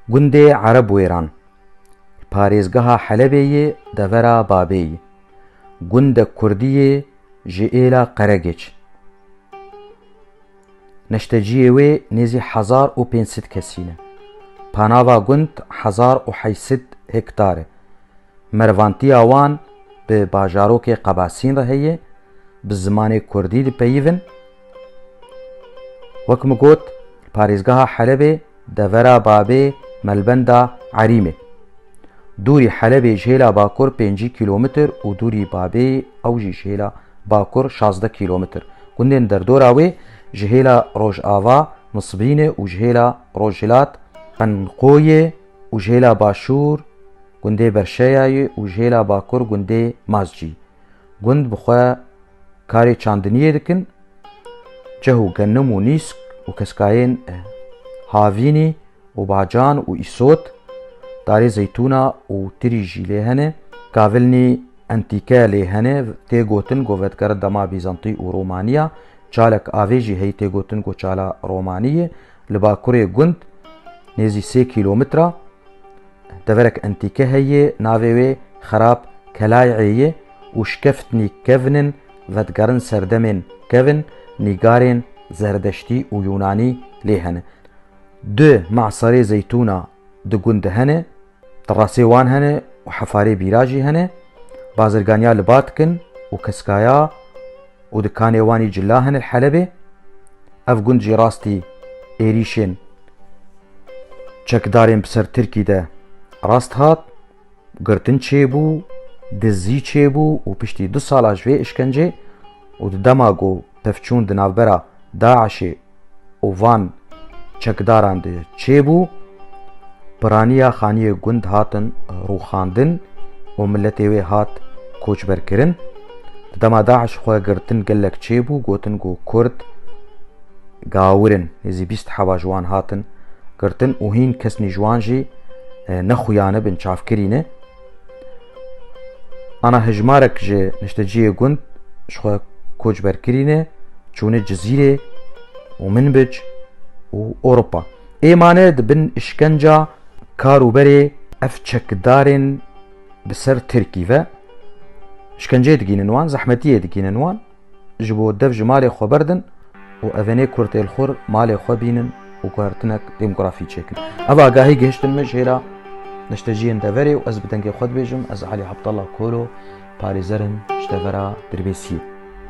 Gundê Erebwêran li parêzgeha Helebê yê devera Babê ye. Gundek kurdî yê ji êla Qeregêç. Neşteciyê wê nêzî hezar û pênc sed kesî ne. Panava gund hezar û heşt sed hektar e. Mervantiya wan bi bajarokê Qebasîn re heye, bi zimanê kurdî dipeyivin. Wek min got, li parêzgeha Helebê devera Babê Melbenda Erîmê. Dûrî Helebê ji hêla bakur pêncî kîlometr û dûrî Babê ew jî ji hêla bakur şazdeh kîlometr. Gundên derdora wê ji hêla rojava Nisbînê û ji hêla rojhilat Qenqoyê û ji hêla başûr gundê Berşeyayê û ji hêla bakur gundê Mazcî. Gund bi xwe karê çandiniyê dikin, cih û genim û nîsk û keskayên havînî û bacan û îsot, darê zeytûna û tirî jî lê hene. Kavilnî entîke lê hene, tê gotin ku vedikere dema Bîzantî û Romanî ya. Çalek avê jî heyî tê gotin ku Çala Romanî ye. Li bakurê gund nêzî sê kîlometre. Deverek entîke heye navê wê Xerab Kelayê ye û şkeftnî kevn in vedigerin serdemên kevn nîgarên Zerdeştî û Yûnanî lê hene. Du maserê zeytûna di gund de hene, terasê wan hene û hefarê bîra jî hene. Bazirganiya li ba dikin û keskaya. û dikanê wan jî cila hene li Helebê. Ev gund jî rastî êrîşên çekdarên bi ser Tirkî de rast hat, girtin çêbû, dizî çêbû û piştî du sala ji vê işkencê û di dema ku pevçûn di navbera DAIŞê û van çekdaran de çêbû, piraniya xaniyê gund hatin rûxandin û miletê wê hat koçberkirin. Di dema DAIŞ xwe girtin gelek çêbû, gotin ku Kurd gawir in. Nêzî bîst heva ji wan hatin girtin û hîn kesnî ji wan jî nexuyanibin çavkirî ne. Ana hejmarek ji nişteciyê gund ji xwe koçber kirîne çûne Cizîrê û Minbic û Ewropa. Ê mane di bin îşkenca kar û berê ev çekdarên bi ser Tirkî ve. Îşkenceyê digînin wan, zehmetiyê digînin wan. Ji bo dev ji malê xwe berdin û evenê kurtêlxwir malê xwe bînin û guhertinek demografî çêkin. Ev agahî gihiştin min jê re neşteciyên deverê û ez bi dengê xwe dibêjim ez Alî Abdallah Kolo parêzerim ji devera Dirbêsiyê.